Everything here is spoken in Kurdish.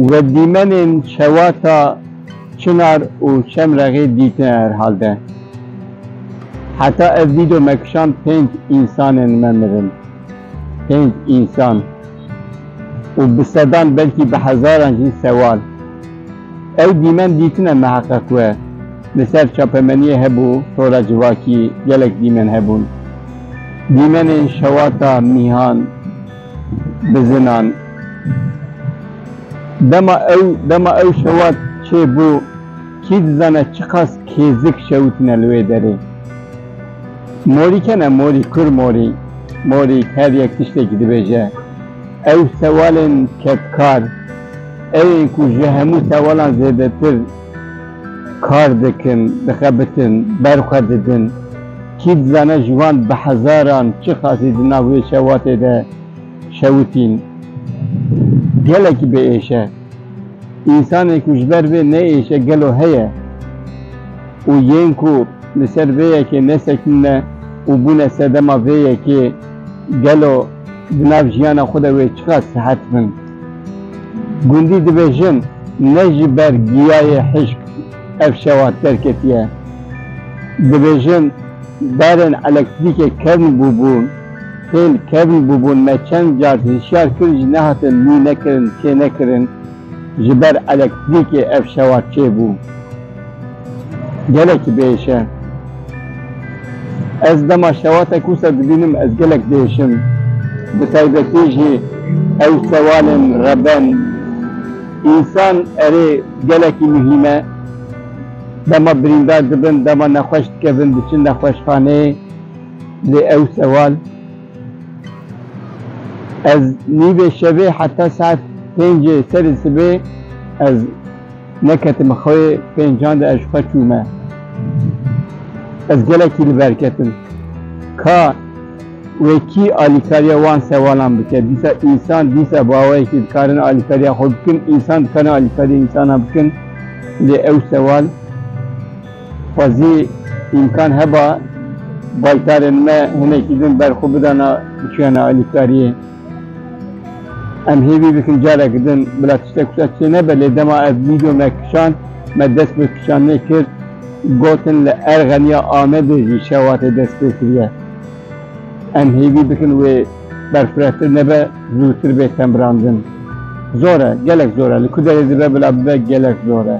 Wedîmenên şewata Çinar û Şemrexê dîtine herhalde. Heta ev vîdyo me kişand pênc însanên me mirin. Pênc însan. û bi sedan belkî bi hezaran jî sewal. Ew dîmen dîtine miheqeq we. Li ser çapemeniyê hebû tora civakî gelek dîmen hebûn. Dîmenên şewata mîhan, bizinan. Dema ew dema ew şewat çêbû kî dizane çiqas kêzik şewitine li wê derê. Morî ke ne morî kur morî morî her yek tiştekî dibêje. Ew sewalên kedkar ew ên ku ji hemû sewalan zêdetir kar dikin, dixebitin, ber xwe didin. Kî dizane ji wan bi hezaran çixasî di nav wê şewatê de şewitîn. Gelekî bê êş e. Însanê ku ji ber vê neyêşe gelo heye û yên ku Li ser vê yekê nesekînine û bûne sedema vê yekê gelo di nav jiyana xwe de wê çiqas sihet bin? Gundî divê jin ne ji ber giyayê hişk ev şewa derketiye. Divê jin berên elektrîkê kevn bûbûn, têl kevn bûbûn me çend car hişyar kir ji nehatin lû nekirin çênekirin ji ber elektrîkê ev şewa çêbû. Gelek bêş e. Ez dema şewatek wisa dibînim ez gelek bêş im. Bi taybetî jî ew sewalên reben însan erê gelekî muhîm e. Dema birîndar dibin, dema nexweş dikevin diçin nexweşxaneyê lê ew sewal ez nîvê şevê heta saet pêncê serê sibê ez Neketime xwê pêncan de ez ji xwe çûme. Ez gelekî li ber ketim. Ka wê kî alîkariya wan sewalan bike? Dîsa însan dîsa baweyekî dikarin alîkariya xwe bikin, însan dikarin alîkariya însanan bikin. Lê ew sewal xwezî îmkan heba baytarên me hinekî din ber xwe bidana biçûyana alîkariyê. Em hêvî dikin careke din bila tiştek wisa çê nebe lê dema ev vîdyo me kişand me dest bi kişandinê kir gotin li Erxeniya Amedê jî şewatê dest pê kiriye. Em hêvî dikin wê berfirehtir nebe zûtir bê tembirandin. Zor e, gelek zor e. Li ku derê dibe bila bibe gelek zor e.